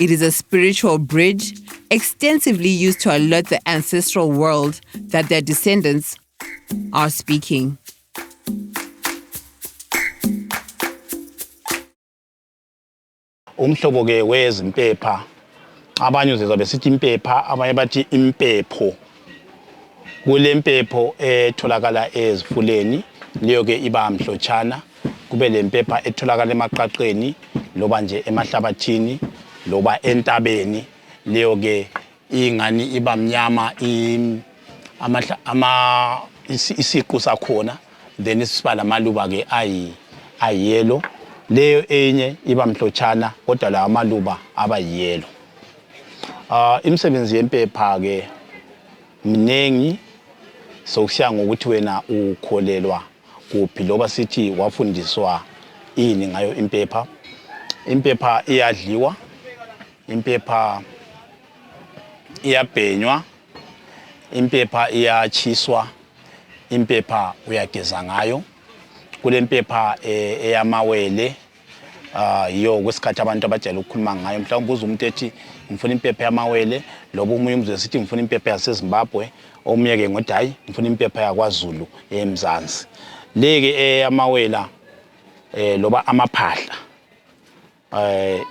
It is a spiritual bridge extensively used to alert the ancestral world that their descendants are speaking. umhlobo ke wezimpepha abanye uzezwa besithi impepha abanye bathi impepho kulempepho etholakala ezifuleni leyo ke iba mhlotshana kube lempepha etholakala emaqaqeni loba nje emahlabathini loba entabeni leyo ke ingani iba mnyama ama isiqu sakhona then isiba lamaluba ke ayi ayelo leyo enye iba mhlotshana kodwa lawo amaluba aba yelo Ah, imisebenzi yempepha ke mnengi sokusiya ngokuthi wena ukholelwa kuphi loba sithi wafundiswa ini ngayo impepha impepha iyadliwa impepha iyabhenywa impepha iyatshiswa impepha uyageza ngayo kulempepha eh, eyamawele Ah, yo kwesikhathi abantu abajayele ukukhuluma ngayo mhlawumbe uze umuntu ethi ngifuna impepha yamawele loba omunye umzwe sithi ngifuna impepha yasezimbabwe omunye ke ngothi hayi ngifuna impepha yakwazulu emzansi le ke eyamawela um eh, loba amaphahla um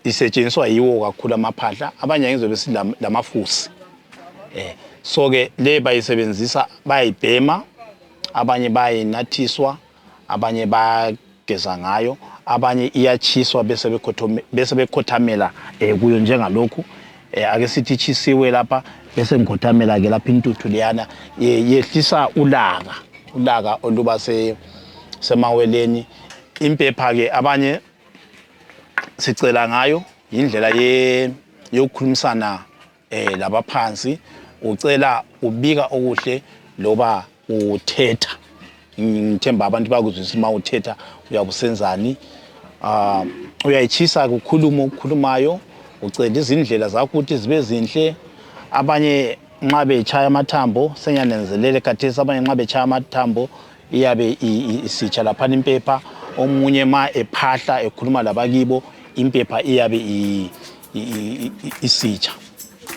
isetshenziswa yiwo kakhulu amaphahla abanye ngizobe silamafusi um eh, so-ke le bayisebenzisa bayayibhema abanye bayinathiswa abanye bageza ngayo abanye iyatshiswa bese bekhothamela eh, kuyo njengalokhu eh, ake sithi itshisiwe lapha bese ngikhothamela ke lapha intuthu leyana yehlisa ulaka ulaka oluba semaweleni impepha ke abanye sicela ngayo yindlela yokukhulumisana eh labaphansi ucela ubika okuhle loba uthetha ngithemba abantu bakuzwisa uma uthetha uyabusenzani um ah, uyayitshisa kukhulumo okukhulumayo ucela izindlela zakho ukuthi zibe zinhle abanye nxa betshaya amathambo senyanenzelele khathesi abanye nxa betshaya amathambo iyabe isitsha laphana impepha omunye ma ephahla ekhuluma labakibo impepha iyabe isitsha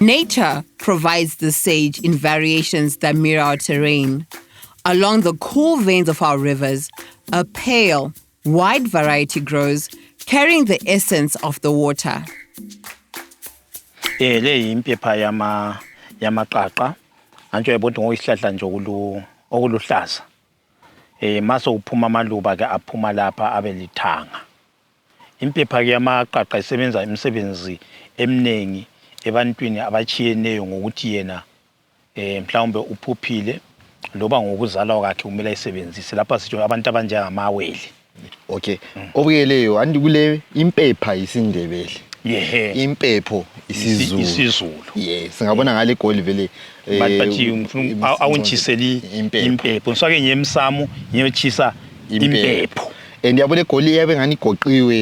Nature provides the sage in variations that mirror our terrain. Along the cool veins of our rivers, a pale, wide variety grows, carrying the essence of the water. Eh le yimpepha yama yamaqaqa. Antsho yabonga ngoyisihlahla nje okulu okuluhlaza. Eh maso uphuma amaluba ke aphuma lapha abelithanga. Impepha ke yamaqaqa isebenza imisebenzi eminengi ebantwini abatshiyeneyo ngokuthi yena eh, mhlawumbe uphuphile loba ngokuzalwa kwakhe kumele ayisebenzise lapha sitsho abantu abanjengamawele okay obuyeleyo anti kule impepha yisindebele yehe impepho isizulu isizulu yes singabona ngale goli vele eh, but but you- ngifuna uku- awu- awuntshiseli impepho ngifake ngiye emsamo ngiyotshisa impepho and yabo le goli yabe ngani igoqiwe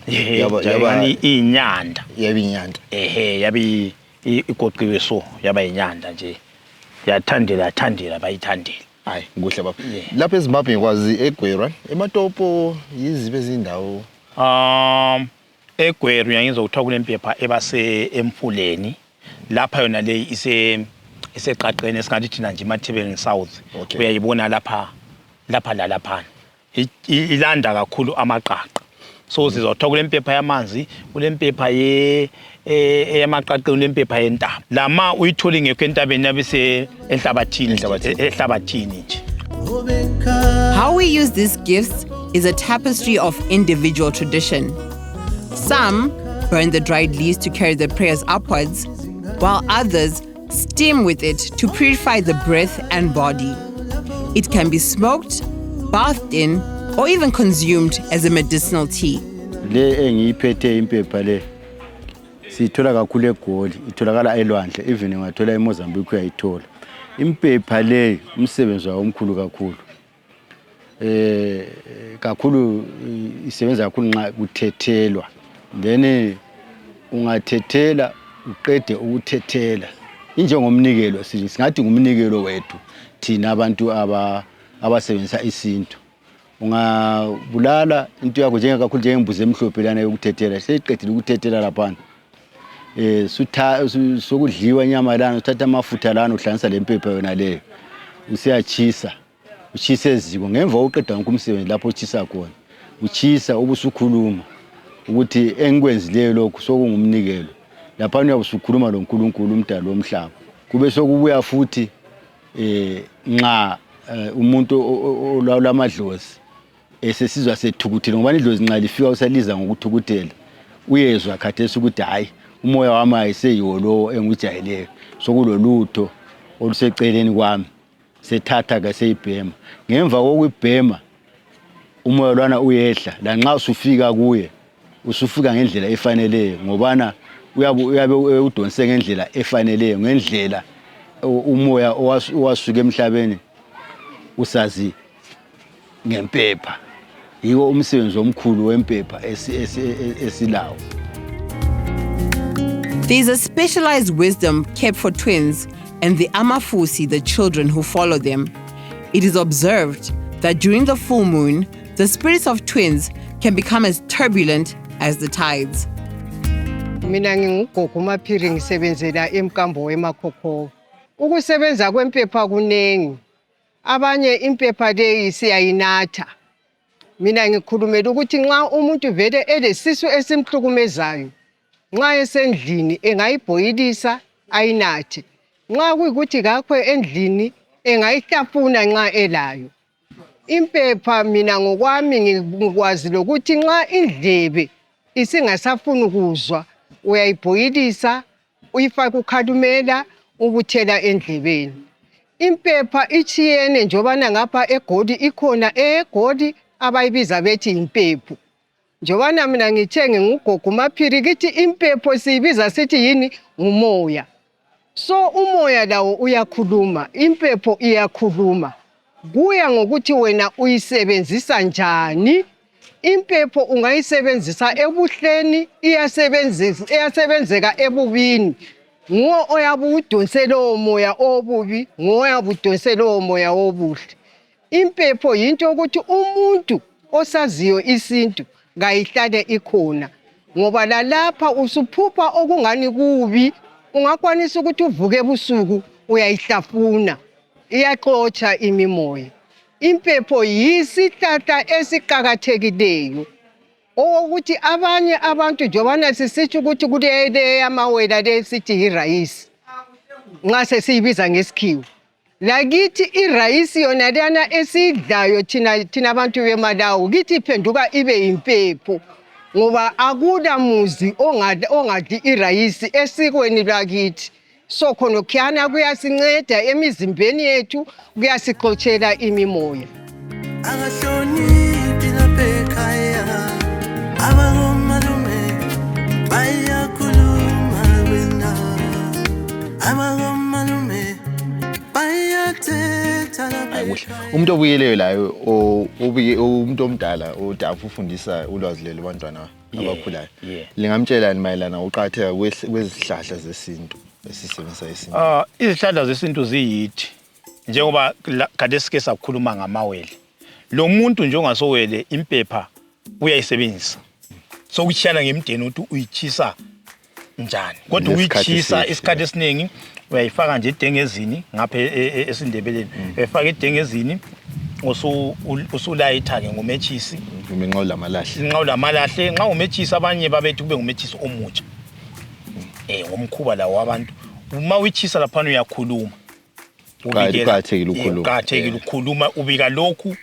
Ehe, yaba yaba yaba ingani iyinyanda yaba inyanda ehe yabe i- i- igoqiwe so yaba yinyanda nje yathandela yathandela bayithandela hayi kuhle baba Yeah. lapha ezimbabwe ngikwazi egwerwa ematopo yizibe ezindawo um egweru yangizwa kuthiwa kunempepha ebase emfuleni lapha yona leyi ise iseqaqeni esingathi thina nje emathebeleni south Okay. uyayibona lapha lapha lalaphana ilanda kakhulu amaqaqa so sizwa kuthiwa kulempepha yamanzi kulempepha e, eyamaqaqeni kulempepha yentaba lama uyithole ngekho entabeni yabe ehlabathini ehlabathini nje How we use these gifts is a tapestry of individual tradition. Some burn the dried leaves to carry the prayers upwards, while others Steam with it to purify the breath and body. It can be smoked, bathed in, or even consumed as a medicinal tea. le engiyiphethe impepha le siyithola kakhulu egoli itholakala elwandle even ungathola emozambique uyayithola impepha leyi umsebenzi wayo omkhulu kakhulu eh kakhulu isebenza kakhulu nxa kuthethelwa then eh, ungathethela uqede ukuthethela injengomnikelo singathi ngumnikelo wethu thina abantu aba abasebenzisa isintu ungabulala into yakho njengekakhulu njengembuzi emhlophe lana yokuthethela seyiqedile ukuthethela laphana eh sutha su- sokudliwa inyama lana uthatha amafutha lana uhlanganisa lempepha yona leyo usiyachisa uchisa eziko ngemva kokuqeda wonke umsebenzi lapho uchisa khona uchisa ubusukhuluma ukuthi engikwenzileyo lokhu sokungumnikelo laphana uyabe usukhuluma lonkulunkulu umdali womhlaba kube sokubuya futhi eh nxa eh, umuntu o- o- olawula amadlozi esesizwa sethukuthele ngoba idlozi nxa lifika usaliza ngokuthukuthela uyezwa khathesi ukuthi hhayi umoya wami ayiseyiwo lowo engujayeleyo sokulolutho oluseceleni kwami sethatha ke seyibhema ngemva kokuyibhema umoya lwana uyehla lanxa usufika kuye usufika ngendlela efaneleyo ngobana uyabe udonse ngendlela efaneleyo ngendlela umoya owasuka emhlabeni usazi ngempepha yiwo umsebenzi omkhulu wempepha esilawo There is a specialized wisdom kept for twins and the Amafusi, the children who follow them. It is observed that during the full moon, the spirits of twins can become as turbulent as the tides. mina ngingugogo umaphiri ngisebenzela emkambo wemakhokhowa ukusebenza kwempepha kuningi abanye impepha leyi siyayinatha mina ngikhulumela ukuthi nxa umuntu vele elesisu esimhlukumezayo nxa esendlini engayibhoyilisa ayinathe nxa kuyikuthi kakho endlini engayihlafuna nxa elayo Impepha mina ngokwami ngikwazi lokuthi nxa indlebe isingasafuni ukuzwa uyayibhoyilisa uyifake ukhalumela ubuthela endlebeni. Impepha itshiyene njobana ngapha egoli ikhona eyegoli abayibiza bethi yimpepho. Njobana mina ngithe ngingugogo umaphiri kithi impepho siyibiza sithi yini ngumoya so umoya lawo uyakhuluma impepho iyakhuluma kuya ngokuthi wena uyisebenzisa njani impepho ungayisebenzisa ebuhleni iyasebenzeka ebubini nguwo oyabe uwudonse lowo moya obubi nguwo oyabe udonse lowo moya obuhle Impepho yinto yokuthi umuntu osaziyo isintu kayihlale ikhona ngoba lalapha usuphupha okungani kubi ungakwanisa ukuthi uvuke ebusuku uyayihlafuna iyaxotsha imimoya impepho yisihlahla esiqakathekileyo owokuthi abanye abantu njobana sisitsho ukuthi kuleyamawela le sithi yirayisi nxa sesiyibiza ngesikhiwa lakithi irayisi yona leyana esiyidlayo thina thina abantu bemalawi kithi iphenduka ibe yimpepho ngoba akula muzi ongadli irayisi esikweni lwakithi so khonokhyana kuyasinceda emizimbeni yethu kuyasixotshela imimoya abahloniphi lapha ekhaya abangomalume bayakhuluma wena abangomalume bayathetha lapha Hayi kuhle. ekhaya. Umuntu obuyeleyo laye o- obuye umuntu omdala odafu ufundisa ulwazi lelo bantwana Yeah, abakhulayo. yeah. Lingamtshelani mayelana uqatheka kwezihlahla zesintu esisebenzisa isintu? Ah, izihlahla zesintu ziyithi njengoba khathesi ke sakhuluma ngamawele lo muntu njengasowele impepha uyayisebenzisa sokutshiyana ngemdeni ukuthi uyitshisa njani kodwa uyitshisa isikhathi esiningi uyayifaka nje edengezini ngapha e, e, e, esindebeleni mm. uyayifaka edengezini usulayitha-ke ngometshisi nqawulamalahle nxa umetshisi abanye babethi kube ngumetshisi omutsha um ngomkhuba lawo wabantu uma uyitshisa laphana uyakhuluma Ubikela- Kuqakathekile ukukhuluma. Yeah, kuqakathekile ukukhuluma ubika lokhu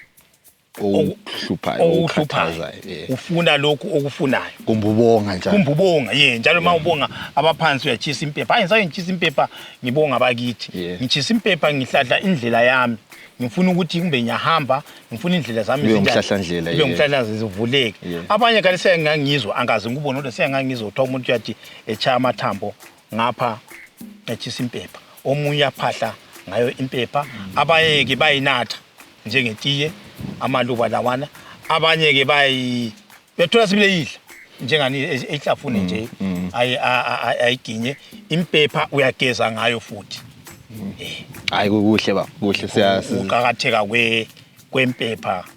okuhluphayo okukhathazayo okuhluphayo yeah. ufuna lokhu okufunayo kumbe ubonga njalo kumbe ubonga ye njalo ma ubonga abaphansi uyatshisa impepha hayi ngisake ngitshisa impepha ngibonga abakithi Yeah. ngitshisa impepha ngihlahla indlela yami ngifuna ukuthi kumbe ngiyahamba ngifuna indlela zami Ube zinjani. umhlahlandlela, Ube yeah. umhlahlandlela zivuleke Yeah. abanye kale sengangizwa angazi ngikubona kodwa sengangizwa kuthiwa umuntu uyathi etshaya amathambo ngapha etshisa impepha omunye aphahla ngayo impepha abayeke bayinatha njengetiye amaluba lawana abanye ke bayi bethola sibile yidla njengani ehlafune mm, nje mm. ayiginye impepha uyageza ngayo futhi mm. eh. hayi kuhle ba kuhle siyaqakatheka kwempepha